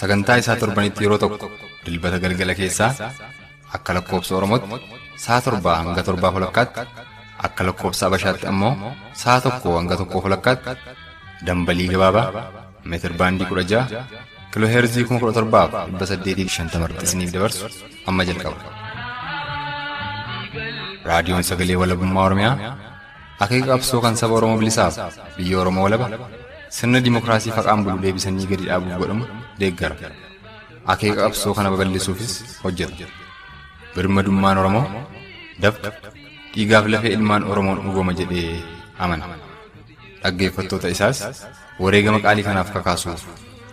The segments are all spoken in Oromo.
Sagantaa isaa torbanitti yeroo tokko dilbata galgala keessaa akka lakkoobsa Oromootti sa'a torbaa hanga torbaa walakkaatti akka lakkoobsa Abashaatti ammoo sa'a tokkoo hanga tokkoo walakkaatti dambalii gabaabaa meetir baandii kudha ja'a kiloo heerzii kuma kudha torbaaf dhibba saddeetii fi shantama irratti isiniif dabarsu amma jalqaba. Raadiyoon Sagalee Walabummaa Oromiyaa Akeeka qabsoo kan saba Oromoo bilisaaf biyya Oromoo walaba sirna dimokiraasii faqaan bulu deebisanii gadi dhaabuuf godhamu deeggara. Akeeka qabsoo kana babal'isuufis hojjeta. Birmadummaan Oromoo dafqa dhiigaaf lafee ilmaan Oromoon dhugooma jedhee amana. Dhaggeeffattoota isaas wareegama qaalii kanaaf kakaasuuf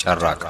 carraaqa.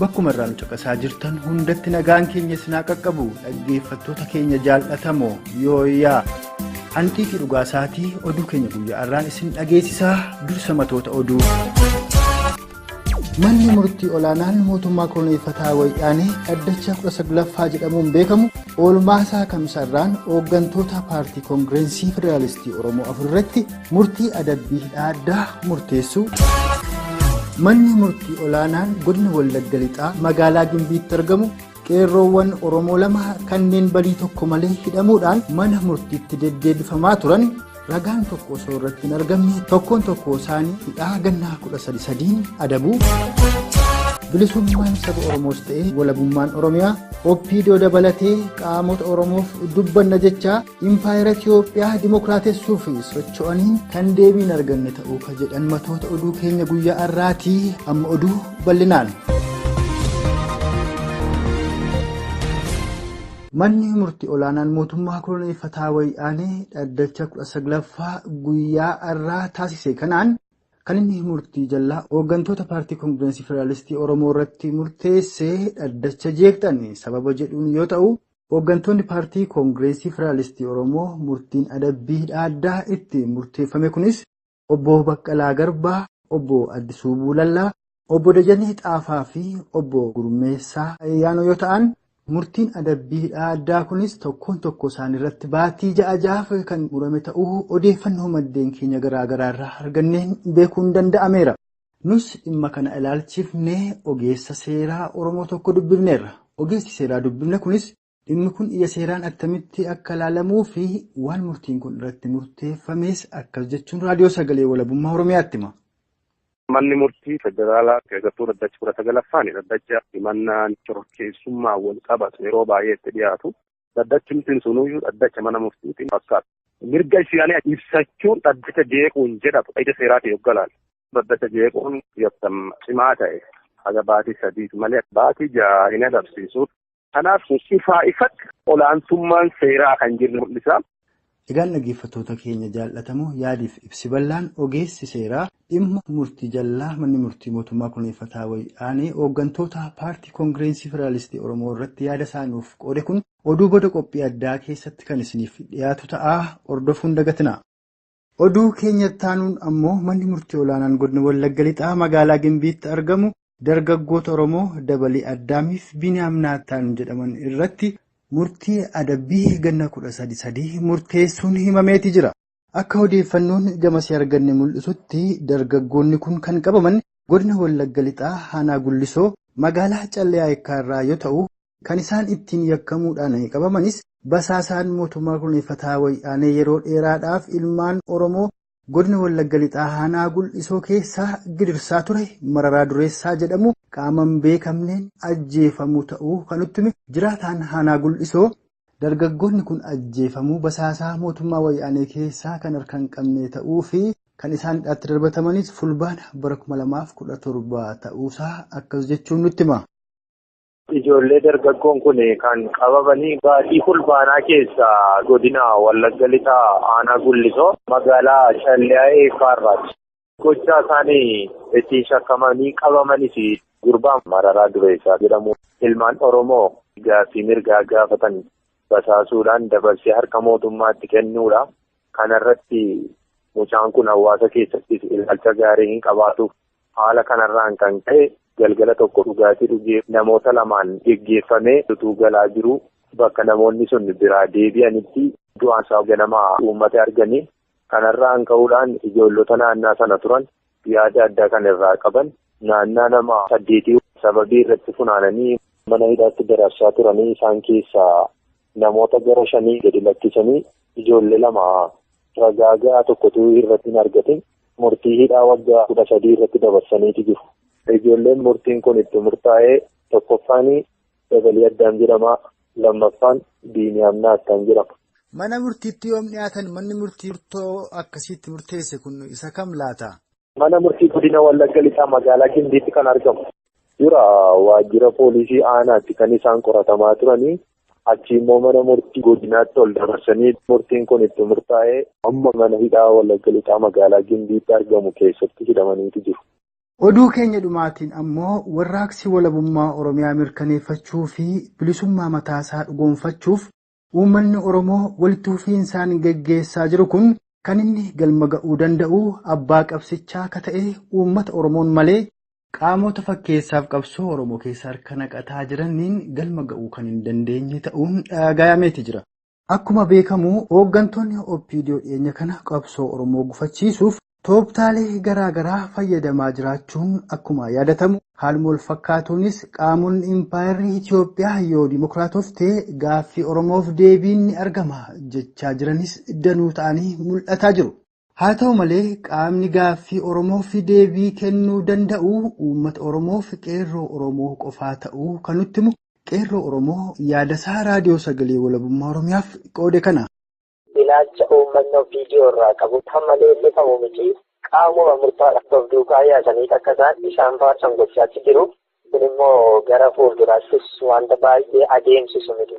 Bakkuma irraa nu caqasaa jirtan hundatti nagaan keenya sinaa qaqqabu dhaggeeffattoota keenya jaal'atamoo yooyaa hanqiiqii dhugaa isaatii oduu keenya guyyaa irraan isin dhageessisaa dursa matoota oduu. Manni murtii olaanaan mootummaa koloneeffataa wayyaanee dhaddacha 19ffaa jedhamuun beekamu oolmaa isaa kamsarraan hooggantoota paartii koongireensii federaalistii oromoo afur irratti Murtii adabbii hidhaa addaa murteessuu. Manni murtii olaanaan godina Wallagga Lixaa magaalaa Gimbiitti argamu qeerroowwan Oromoo lama kanneen balii tokko malee hidhamuudhaan mana murtiitti deddeebifamaa turan ragaan tokko osoo irratti hin argamne tokkoon tokkoo isaanii hidhaa gannaa kudha sadi sadiin adabuu. Bilisummaan saba Oromoos ta'ee walabummaan Oromiyaa OPDO dabalatee qaamota Oromoof dubbanna jechaa Impaayera Itiyoophiyaa dimokiraatessuuf socho'aniin kan deebii hin arganne ta'uu kan jedhan matoota oduu keenya guyyaa har'aati amma oduu bal'inaan. Manni murtii olaanaan mootummaa koloneeffataa wayyaanee dhaddacha 19ffaa guyyaa har'aa taasise kanaan kan inni murtii jallaa hooggantoota paartii koongireensii federaalistii Oromoo irratti murteesse dhaddacha jeeqxan sababa jedhuun yoo ta'u. Hooggantoonni Paartii Koongireesii Federaalistii Oromoo murtiin adabbii hidhaa addaa itti murteeffame kunis Obbo Baqqalaa Garbaa, Obbo Addisuu Buulallaa, Obbo Dajanee Xaafaa fi Obbo Gurmeessaa Ayyaanoo yoo ta'an, murtiin adabbii hidhaa addaa kunis tokkoon tokkoo isaaniirratti baatii ja'a ja'aaf kan murame ta'uu odeeffannoo maddeen keenya garaa garaarraa arganneen beekuun danda'ameera. Nus dhimma kana ilaalchifnee ogeessa seeraa Oromoo tokko dubbifneerra. Ogeessi seeraa dubbifne kunis dhimmi kun ija seeraan attamitti akka ilaalamuu fi waan murtiin kun irratti murteeffames akkas jechuun Raadiyoo Sagalee Walabummaa Oromiyaatti hima. Manni murtii federaalaa keessattuu dhaddachi kudha sagalaffaan dhaddacha himannaan shororkeessummaan wal qabatu yeroo baay'ee itti dhiyaatu Dhaddachumtiin sunuyyuu dhaddacha mana murtiitiin fakkaata. Mirga isaanii ibsachuun dhaddacha jeequun jedhatu ija seeraatiin yogga ilaalu. Dhaddacha jeequun yakka cimaa ta'e haga baatii sadiiti malee baatii ja'a hin adabsiisu. Kanaaf ifaa ifatti olaantummaan seeraa akka hin jirre mul'isa. Egaan dhaggeeffattoota keenya jaal'atamoo yaadiif ibsi bal'aan ogeessi seeraa dhimma murtii jallaa manni murtii mootummaa kurneeffataa wayyaanee ooggantoota paartii koongireensii federaalistii Oromoo irratti yaada isaa nuuf qoode kun oduu booda qophii addaa keessatti kan isiniif dhiyaatu ta'a hordofuun dagatinaa. Oduu keenya ittaanuun ammoo manni murtii olaanaan godina Wallagga Lixaa magaalaa Gimbiitti argamu dargaggoota Oromoo Dabalii Addaamiif Biiniyaam Naattaan jedhaman irratti murtii adabbii ganna 13 sadii murteessuun himameeti jira. Akka odeeffannoon gamasii arganne mul'isutti dargaggoonni kun kan qabaman godina Wallagga Lixaa aanaa Gullisoo magaalaa Callee Ayekkaa irraa yoo ta'u Kan isaan ittiin yakkamuudhaan qabamanis basaasaan mootummaa koloneeffataa Wayyaanee yeroo dheeraadhaaf ilmaan Oromoo Godina Wallagga Lixaa Aanaa Gul'isoo keessaa gidirsaa ture Mararaa Dureessaa jedhamu qaama hin beekamneen ajjeefamuu ta'uu kan nutti hime jiraataan Aanaa Gul'isoo, dargaggoonni kun ajjeefamuu basaasaa mootummaa Wayyaanee keessaa kan harka hin qabnee ta'uu fi kan isaan hidhaatti darbatamanis Fulbaana bara 2017 ta'uusaa akkas jechuun nutti hima. Ijoollee dargaggoon kun kan qabamanii baatii Fulbaanaa keessa godina Wallagga Lixaa aanaa Gullisoo magaalaa Calliyaa Eekkaarraati. Gochaa isaanii ittiin shakkamanii qabamanis gurbaa Mararaa Dureessaa jedhamu ilmaan Oromoo gaaffii mirgaa gaafatan basaasuudhaan dabarsee harka mootummaatti kennuudha. Kanarratti mucaan kun hawaasa keessattis ilaalcha gaarii hin qabaatu. Haala kanarraan kan ka'e galgala tokko dhugaatii dhugee namoota lamaan geggeeffamee utuu galaa jiruu bakka namoonni sun biraa deebi'anitti du'aan isaa ganama uummata arganii kanarraan ka'uudhaan ijoollota naannaa sana turan yaada addaa kan irraa qaban naannaa nama saddeetii sababii irratti funaananii mana hidhaatti dararsaa turanii isaan keessaa namoota gara shanii gadi lakkisanii ijoollee lama ragaa ga'aa tokkotu irratti hin argatin murtii hidhaa waggaa kudha sadii irratti dabarsaniiti jiru. Ijoolleen murtiin kun itti murtaa'ee tokkoffaan dabalii addaan jedhama lammaffaan biiniyaam naattaan jedhama. Mana murtiitti yoom dhiyaatan manni murtii murtoo akkasiitti murteesse kun isa kam laata? Mana murtii godina Wallagga Lixaa magaalaa Gimbiitti kan argamu. Dura waajjira poolisii aanaatti kan isaan qoratamaa turanii achi immoo mana murtii godinaatti ol dabarsanii murtiin kun itti murtaa'ee amma mana hidhaa Wallagga Lixaa magaalaa Gimbiitti argamu keessatti hidhamaniitu jiru. Oduu keenya dhumaatiin ammoo warraaqsi walabummaa Oromiyaa mirkaneeffachuu fi bilisummaa mataasaa dhugoonfachuuf Uummanni Oromoo walitti fufiinsaan geggeessaa jiru kun kan inni galma ga'uu danda'u abbaa qabsichaa ka ta'e uummata Oromoon malee, qaamota fakkeessaaf qabsoo Oromoo keessa harka naqataa jiranniin galma ga'uu kan hin dandeenye ta'uun dhaagaayameeti jira. Akkuma beekamu hooggantoonni OPDO dhiyeenya kana qabsoo Oromoo gufachiisuuf Tooftaalee garaagaraa fayyadamaa jiraachuun akkuma yaadatamu, haaluma walfakkaatuunis qaamonni impaayerri Itoophiyaa yoo dimokiraatofte gaaffii Oromoof deebiin ni argama jechaa jiranis danuu ta'anii mul'ataa jiru. Haa ta'u malee, qaamni gaaffii Oromoof deebii kennuu danda'u uummata Oromoof Qeerroo Oromoo qofaa ta'uu kan nutti himu Qeerroo Oromoo yaadasaa Raadiyoo Sagalee Walabummaa Oromiyaaf qoode kana. ilaalcha uummanni OPDO irraa qabu kan maleellifamu miti qaamuma murtaadhaaf of duukaa yaasanii akka isaan isaan faarsan gochaatti jiru. Kun immoo gara fuulduraattis wanta baay'ee adeemsisu miti.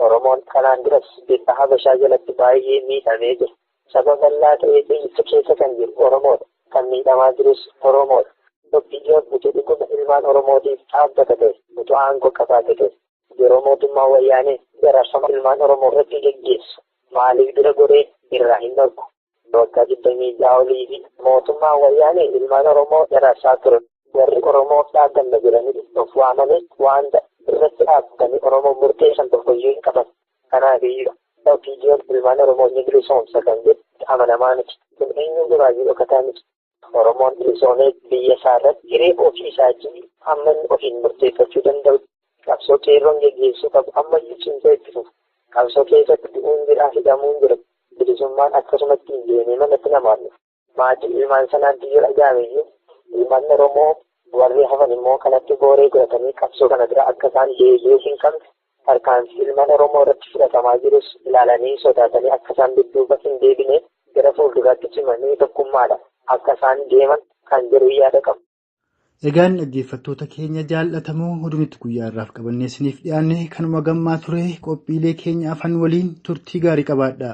Oromoon kanaan duras bifa Habashaa jalatti baay'ee miidhamee jira. Saba bal'aa ta'ee biyyicha keessa kan jiru Oromoodha. Kan miidhamaa jirus Oromoodha. OPDOn utuu dhuguma ilmaan Oromootiif dhaabbata ta'e, utuu aangoo qabaate ta'e, Yeroo mootummaan Wayyaanee dararsama ilmaan Oromoo irratti geggeessu maaliif bira goree irraa hin dhorku? Waggaa 26 oliif mootummaan Wayyaanee ilmaan Oromoo dararsaa ture. Warri Oromoof dhaabbanna jedhanii of waamanis waanta irratti dhaabbatanii Oromoof murteessan tokkoyyuu hin qaban. Kanaafiyyuu OPDOn ilmaan Oromoo ni bilisoomsa kan jedhu amanamaa miti. Kun eenyuun duraayyuu dhokataa miti. Oromoon bilisoomee biyya isaa irratti hiree ofii isaatii amma inni ofiin murteeffachuu danda'u qabsoo qeerroon geggeessuu qabu ammayyuu cimsee itti fufu. Qabsoo keessatti du'uun jira, hidhamuun jira. Bilisummaan akkasumatti hin deemee manatti namaan dhufa. Maatii ilmaan sanaatti yoo dhaga'ameyyuu ilmaan Oromoo warri hafan immoo kanatti booree godhatanii qabsoo kana dura akka isaan deebi'uu hin qabne Tarkaanfii ilmaan Oromoo irratti fudhatamaa jirus ilaalanii sodaatanii akka isaan dudduuba hin deebine gara fuulduraatti cimanii tokkummaadha akka isaan deeman kan jedhu yaada qaba. Egaan dhaggeeffattoota keenya jaallatamoo oduu nuti guyyaa har'aaf qabannee isiniif dhiyaanne kanuma gammaa ture qophiilee keenya afan waliin turtii gaarii qabaadha.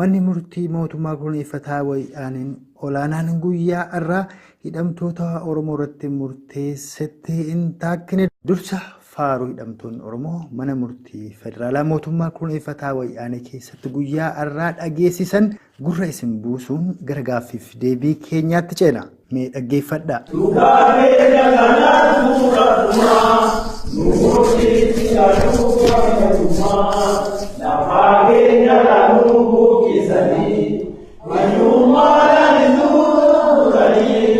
Manni murtii mootummaa kurneeffataa Wayyaaneen olaanaan guyyaa har'aa hidhamtoota Oromoo irratti murteessetti hin taakkine. Dursa faaruu hidhamtoonni Oromoo mana murtii federaalaa mootummaa kurneeffataa Wayyaanee keessatti guyyaa har'aa dhageessisan gurra isin buusuun gara gaaffiif deebii keenyaatti ceena. Mee dhaggeeffadhaa. Dhugaa keenya kanaan bu'uura dhumaa, nu murtiitti galuu qabna dhumaa. Lafaa keenya kanuu buqqisanii, manyummaadhaan nu gurguranii,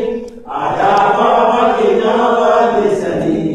aadaa baaba keenyaa balleessanii.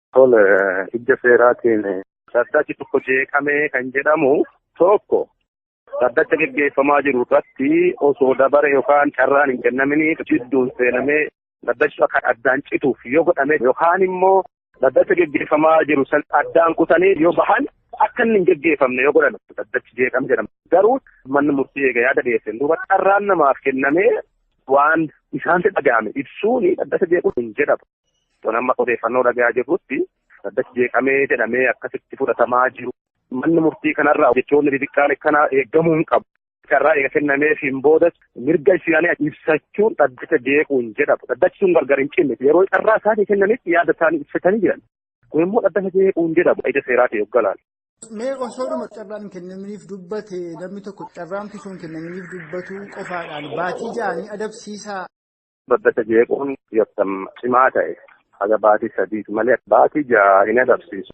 Tole ija seeraatiin. Dhaddachi tokko jeeqamee kan jedhamu tokko dhaddacha geggeeffamaa jiru irratti osoo dabare yookaan carraan hin kennaminii jidduun seenamee dhaddachi akka addaan cituuf yoo godhame yookaan immoo dhaddacha geggeeffamaa jiru san addaan kutanii yoo bahan akka inni hin geggeeffamne yoo godhame dhaddachi jeeqame jedhama. Garuu manni murtii eega yaada dhiyeesseen duuba carraan namaaf kennamee waan isaanti dhaga'ame ibsuun dhaddacha jeequun hin jedhamu. Kan amma odeeffannoo dhagayaa jirrutti dhaddachi jeeqamee jedhamee akkasitti fudhatamaa jiru. Manni murtii kanarraa jechoonni xixiqqaan akkanaa eegamuu hin qabu. Carraa eega kennameefiin boodas mirga isaanii ibsachuun dhaddacha jeequu hin jedhamu. Dhaddachi sun gargar hin cinne. Yeroo carraa isaanii kennanitti yaada isaanii ibsatanii jiran. Kun immoo dhaddacha jeequu hin jedhamu. Ija seeraatiin yoo galaan. Mee osoodhuma carraan hin kennaminiif dubbate namni tokko carraamti sun kennaminiif dubbatu qofaadhaan baatii ja'anii adabsiisaa. Babbata jeequun yakka cimaa ta'e haga baatii sadiiti malee baatii ja'a hin adabsiisu.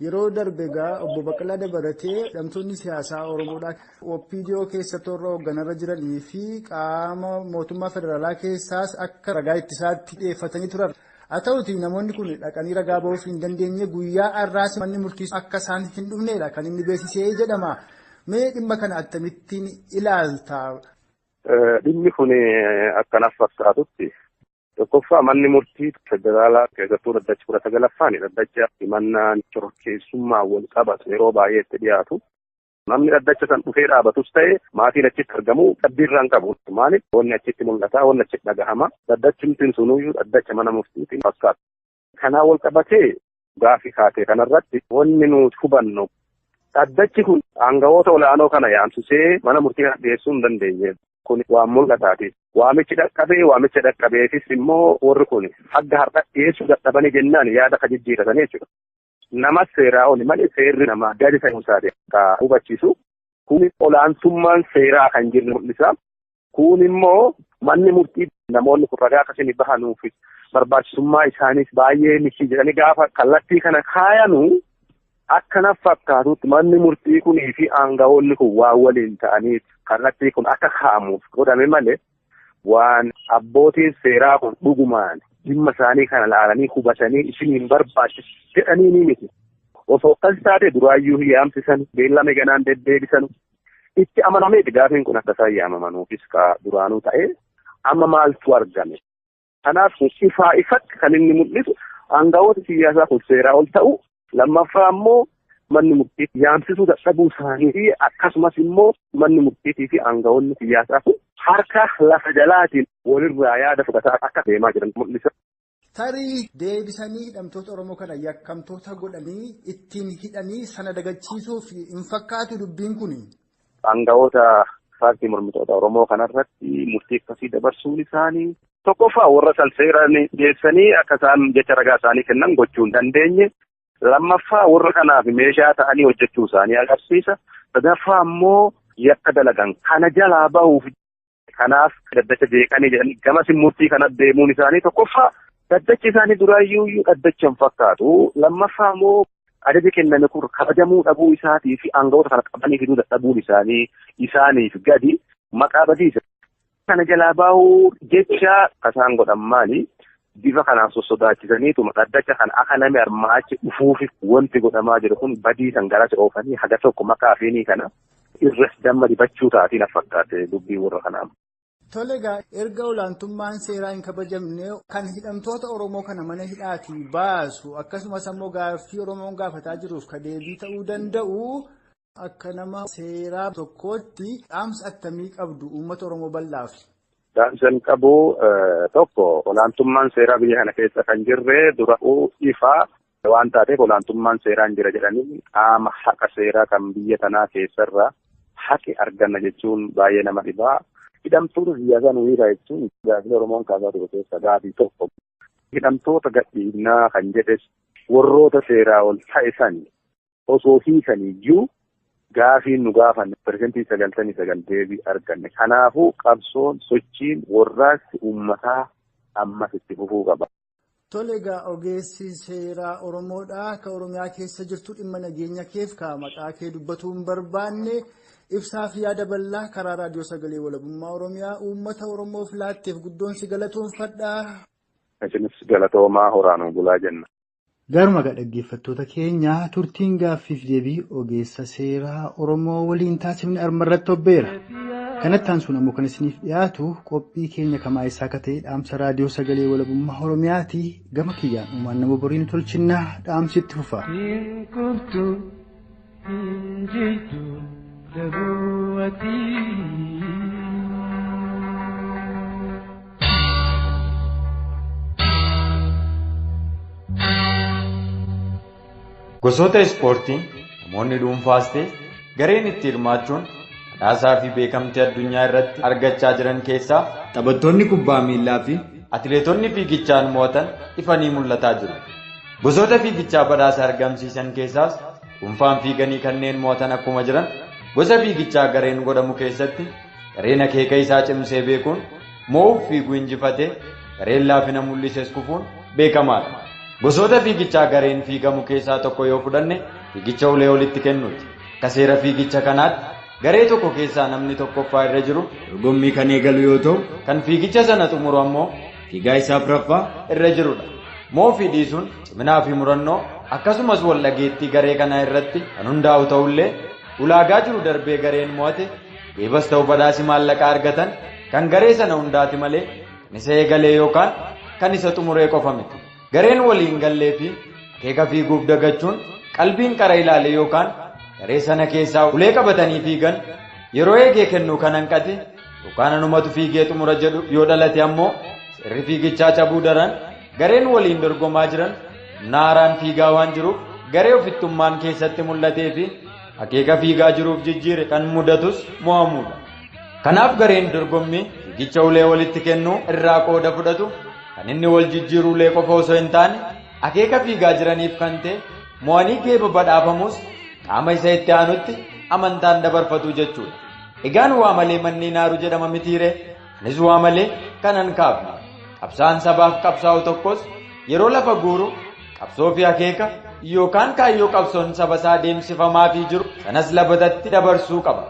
Yeroo darbe egaa obbo Baqqalaa dabalatee hidhamtoonni siyaasaa Oromoodhaa OPDO keessa toora hoogganarra jiranii fi qaama mootummaa federaalaa keessaas akka ragaa ittisaatti dhiyeeffatanii turan. Haa ta'uutii namoonni kun dhaqanii ragaa bahuuf hin dandeenye guyyaa har'aas manni murtii akka isaan hin dhufneedha kan inni beeksisee jedhama. Mee dhimma kana akkamittiin ilaalta? Dhimmi kun akka naaf fakkaatutti tokkoffaa manni murtii federaalaa keessattuu dhaddachi kudha sagalaffaan dhaddacha himannaan shororkeessummaa wal qabatu yeroo baay'ee itti dhiyaatu. Namni dhaddacha san dhufee dhaabatus ta'e maatiin achitti argamu dhabbiirraa hin qabu. Maaliif wanni achitti mul'ata, wanni achitti dhagahama. Dhaddachumtiin sunuyyuu dhaddacha mana murtiitiin fakkaata. Kanaan wal qabatee gaaffii kaatee kanarratti wanni nuti hubannu dhaddachi kun aangawoota ol'aanoo kana yaamsisee mana murtii kana dhiyeessuu hin dandeenye. Kun waan mul'ataati. Waamichi dhaqqabee waamicha dhaqqabeefis immoo warri kun hanga har'a dhiyeessuu dadhabanii jennaan yaada kan jijjiiratanii jechuudha. Namas seeraa oli malee seerri namaa gadi ta'uu isaati akka hubachiisu. Kun olaantummaan seeraa kan jirre mul'isa. Kun immoo manni murtii namoonni kun ragaa akka isin bahanuuf barbaachisummaa isaaniis baay'ee miti jedhanii gaafa kallattii kana kaayanu akka naf fakkaatutti manni murtii kunii fi aangawoonni kun waan waliin ta'aniif kallattii kun akka kaa'amuuf godhame malee Waan abbootiin seeraa kun dhugumaan dhimma isaanii kana laalanii hubatanii isin hin barbaachisu jedhanii ni miti. Osoo akkas taate duraayyuu hin yaamsisan beellame ganaan deddeebisanu. Itti amanameeti gaafiin kun akka isaan yaamamanuufis kaa duraanuu ta'ee amma maaltu argame? Kanaaf kun ifaa ifatti kan inni mul'isu aangawoota siyaasaa kun seeraa ol ta'u lammaffaa immoo manni murtiitti yaamsisuu dadhabuu isaanii fi akkasumas immoo manni murtiitii fi aangawoonni siyaasaa kun harka lafa jalaatiin walirraa yaada fudhataa akka deemaa jiran mul'isa. Tarii deebisanii hidhamtoota Oromoo kana yakkamtoota godhanii ittiin hidhanii sana dagachiisuuf hin fakkaatu dubbiin kun Aanga'oota paartii mormitoota Oromoo kanarratti murtii akkasii dabarsuun isaanii tokkoffaa warra san seeraan dhiyeessanii akka isaan jecha ragaa isaanii kennan gochuu hin dandeenye. Lammaffaa warra kanaaf meeshaa ta'anii hojjechuu isaanii agarsiisa. Sadaffaa immoo yakka dalagan kana jalaa bahuuf Kanaaf daddacha jeeqanii jedhan gamas murtii kana deemuun isaanii tokkoffaa daddachi isaanii duraayyuu daddacha hin fakkaatu lammaffaa immoo ajaji kenname kun kabajamuu dhabuu isaatii fi aangawoota kana qabanii fiduu dadhabuun isaanii isaaniif gadi maqaa badiisa. Kana jalaa baahuu jecha kasaan godhan maali? Bifa kanaan sossodaachisaniituma dhaddacha kan akka namni armaachi dhufuuf wanti godhamaa jiru kun badiisan garas oofanii haga tokko maqaa fiinii kana irras damma dibachuu taatee na fakkaate dubbii warra kanaa. Tole egaa erga olaantummaan seeraa hin kabajamne kan hidhamtoota Oromoo kana mana hidhaatii baasu akkasumas ammoo gaaffii Oromoon gaafataa jiruuf ka deebii ta'uu danda'u akka nama seeraa tokkootti dhaamsa attamii qabdu uummata Oromoo bal'aaf. Dhaamsan qabu tokko olaantummaan seeraa biyya kana keessa kan jirre dura'uu ifaa Waan taateef olaantummaan seeraa hin jira jedhanii qaama haqa seeraa kan biyya tanaa keessarraa haqi arganna jechuun baay'ee nama dhibaa. Hidhamtoota siyaasaa nu hiikaa jechuun gaaffilee Oromoon kaasaa ture keessa gaafii tokko. Hidhamtoota gadhiifnaa kan jedhes warroota seeraa ol ta'e sani. osoo hiikanii iyyuu gaafiin nu gaafanne persentii sagaltamii sagal deebii arganne. Kanaafuu qabsoon, sochiin, warraaqsi uummataa ammas itti fufuu qaba. Tole egaa ogeessi seeraa Oromoodha. Ka Oromiyaa keessa jirtu dhimma nageenya keef ka maqaa kee dubbatuu hin barbaanne ibsaa fi yaada bal'aa karaa raadiyoo sagalee walabummaa Oromiyaa uummata Oromoof laatteef guddoon si galatoonfadha. Isinis galatoomaa horaa nuu bulaa jenna. Gaaruma egaa dhaggeeffattoota keenya turtiin gaaffiif deebii ogeessa seeraa Oromoo waliin taasifne arma irratti hobbeera. Kanatti aansuun ammoo kan isiniif dhiyaatu qophii keenya kamaa eessaa akka ta'e dhaamsa raadiyoo sagalee walabummaa Oromiyaati gama kiyyaan uumaan nama borii nu tolchinnaa dhaamsi itti fufa. Hin kuftu Gosoota ispoortii namoonni dhuunfaas ta'e gareen itti hirmaachuun badhaasaa fi beekamtii addunyaa irratti argachaa jiran keessaa taphattoonni kubbaa miillaa fi atileetonni fiigichaan mo'atan ifanii mul'ataa jiru. Gosoota fiigichaa badhaasa argamsiisan keessaas dhuunfaan fiiganii kanneen mo'atan akkuma jiran gosa fiigichaa gareen godhamu keessatti gareen akeeka isaa cimsee beekuun mo'uuf fiiguu injifatee gareen laafina mul'ises kufuun beekamaadha. Gosoota fiigichaa gareen fiigamu keessaa tokko yoo fudhanne fiigicha ulee olitti kennuuti. Akka seera fiigicha kanaatti garee tokko keessaa namni tokkoffaa irra jiru dorgommii kan eegalu yoo ta'u kan fiigicha sana xumuru ammoo fiigaa isa afraffaa irra jirudha. Moofii dhiisuun ciminaa fi murannoo akkasumas wal dhageettii garee kanaa irratti kan hundaa'u ta'ullee ulaagaa jiru darbee gareen mo'ate deebas ta'u badhaasi maallaqa argatan kan garee sana hundaati malee kan isa eegalee yookaan kan isa xumuree qofa miti. Gareen walii hin gallee fi akeeka fiiguuf dagachuun qalbiin qara ilaalee yookaan garee sana keessaa ulee qabatanii fiigan yeroo eegee kennuu kan hanqate yookaan anumatu fiigee xumura jedhu yoo dhalate ammoo seerri fiigichaa cabuu daran gareen waliin dorgomaa jiran humna haaraan fiigaa waan jiruuf garee ofittummaan keessatti mul'atee fi akeeka fiigaa jiruuf jijjiire kan mudatus mo'amuudha. Kanaaf gareen dorgommii fiigicha ulee walitti kennuu irraa qooda fudhatu kan inni wal jijjiiru ulee qofa osoo hin taane akeeka fiigaa jiraniif kan ta'e mo'anii geeba badhaafamuus qaama isa itti aanutti amantaan dabarfatu jechuudha. Egaan waa malee manneen naaru jedhama mitiiree anis waa malee kanan kaafne qabsaan sabaaf qabsaa'u tokkos yeroo lafa guuru qabsoo fi akeeka yookaan kaayyoo qabsoon saba isaa deemsifamaa fi jiru sanas labatatti dabarsuu qaba.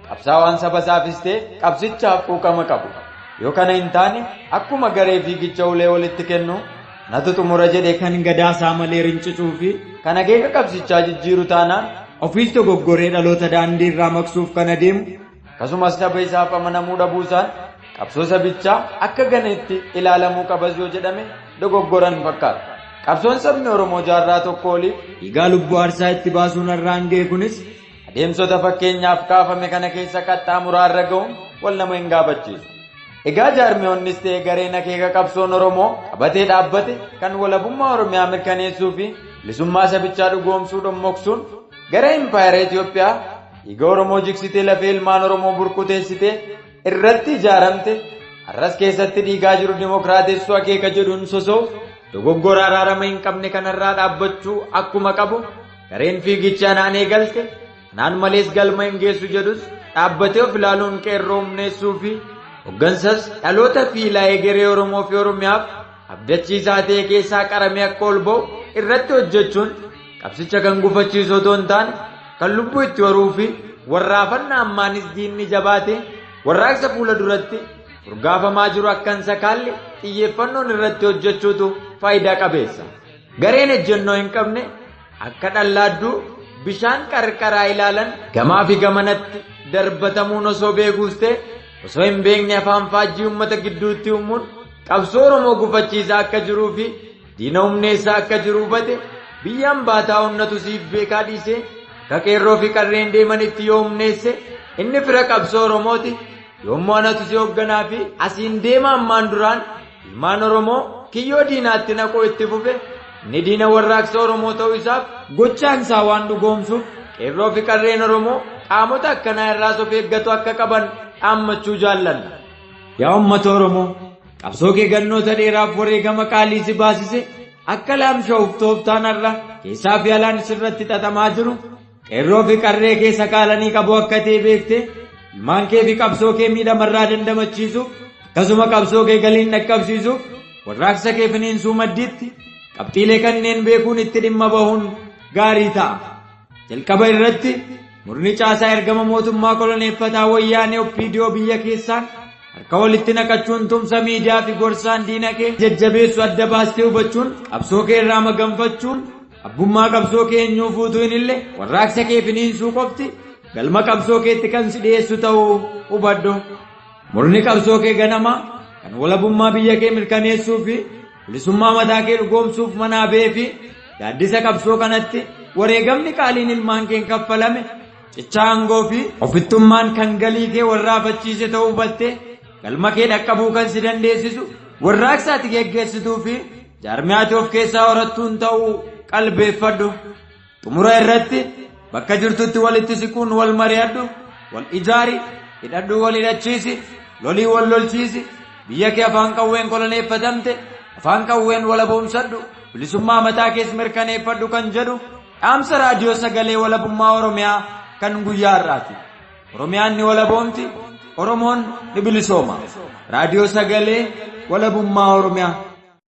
Qabsaawaan saba isaafis ta'e qabsichaaf quuqama qabu. Yoo kana hin taane akkuma garee fiigicha ulee walitti kennu natu xumura jedhe kan gadaa isaa malee rincicuu fi kan akeeka qabsichaa jijjiiru taanaan ofiis dogoggoree dhaloota daandii irraa maqsuuf kan adeemu akkasumas saba isaaf amanamuu dhabuusaan qabsoo sabichaa akka ganeetti ilaalamuu qabas yoo jedhame dogoggoran fakkaata. Qabsoon sabni Oromoo jaarraa tokko oliif dhiigaa lubbuu aarsaa itti baasuun har'aan ga'e kunis Adeemsota fakkeenyaaf kaafame kana keessa qaxxaamuraa irra ga'uun wal nama hin gaafachiisu. Egaa jaarmiyoonnis ta'e gareen akeeka qabsoon Oromoo qabatee dhaabbate kan walabummaa Oromiyaa mirkaneessuu fi bilisummaa sabichaa dhugoomsuu dhommoksuun gara impaayera Itoophiyaa dhiiga Oromoo jigsitee lafee ilmaan Oromoo burkuteessitee irratti ijaaramte har'as keessatti dhiigaa jiru dimokiraatessuu akeeka jedhuun sosoof dogoggora araarama hin qabne kanarraa dhaabbachuu akkuma qabu Gareen fiigicha anaan eegalte anaan malees galma hin geessu jedhus dhaabbatee of ilaaluun qeerroo humneessuu fi hoggansas dhaloota fi ilaa egeree Oromoo fi Oromiyaaf abdachiisaa ta'e keessaa qaramee akka ol ba'u irratti hojjechuun qabsicha kan gufachiisu otoo hin taane kan lubbuu itti horuu fi warraafannaa ammaanis diinni jabaate warraaqsa fuula duratti urgaafamaa jiru akkan sakaalle xiyyeeffannoon irratti hojjechuutu faayidaa qabeessa. Gareen ejjennoo hin qabne akka dhallaadduu bishaan qarqaraa ilaalan gamaa fi gamanatti darbatamuun osoo beekuus ta'e osoo hin beekne afaan faajjii uummata gidduutti uumuun qabsoo Oromoo gufachiisaa akka jiruu fi diina humneessaa akka jiru hubate biyyaan baataa onnatu siif beekaa dhiisee akka qeerroo fi qarreen deemanitti yoo humneesse inni fira qabsoo Oromooti yoommoo anatu si hoogganaa fi asiin deema ammaan duraan Ilmaan Oromoo kiyyoo diinaatti naquu itti fufe inni diina warraaqsa Oromoo ta'uu isaaf gochaan isaa waan dhugoomsuuf qeerroo fi qarreen Oromoo qaamota akkanaa irraas of eeggatu akka qaban dhaammachuu jaallanna. Yaa uummata Oromoo qabsoo kee gannoota dheeraaf wareegama qaalii si baasise akka laamsha'uuf tooftaan har'a keessaa fi alaan sirratti xaxamaa jiru Qeerroo fi qarree kee sakaalanii qabuu akka ta'e beekte ilmaan kee fi qabsoo kee miidhamarraa dandamachiisuuf akkasuma qabsoo kee galiin dhaqqabsiisuuf warraaqsa kee finiinsuu maddiitti qabxiilee kanneen beekuun itti dhimma bahuun gaarii ta'a. Jalqaba irratti murni caasaa ergama mootummaa koloneeffataa wayyaanee oppiidiyoo biyya keessaan harka walitti naqachuun tumsa miidiyaa fi gorsaan diina kee jajjabeessu adda baastee hubachuun qabsoo kee irraa maganfachuun Abbummaa qabsoo kee eenyuu fuutuu hin ille warraaqsa kee finiinsuu qofti galma qabsoo keetti kan si dhiyeessu ta'uu hubadhu. Murni qabsoo kee ganamaa kan walabummaa biyya kee mirkaneessuu fi bilisummaa mataa kee dhugoomsuuf manaa ba'ee fi gaaddisa qabsoo kanatti wareegamni qaaliin ilmaan keen kaffalame cichaa aangoo fi ofittummaan kan galii kee warraafachiise ta'uu hubattee Galma kee dhaqqabuu kan si dandeessisu warraaqsa ati geggeessituu fi jaarmiyaa ati of keessaa horattuun ta'uu qalbeeffadhu. Xumura irratti bakka jirtutti walitti siquun wal mari'adhu, wal ijaari, hidhadhuu wal hidhachiisi, lolii wal lolchiisi, biyya kee afaan qawween koloneeffatamte afaan qawween walaboomsadhu, bilisummaa mataa kees mirkaneeffadhu kan jedhu dhaamsa raadiyoo sagalee walabummaa Oromiyaa kan guyyaa har'aati. Oromiyaan ni walaboomti, Oromoon ni bilisooma. Raadiyoo Sagalee Walabummaa Oromiyaa.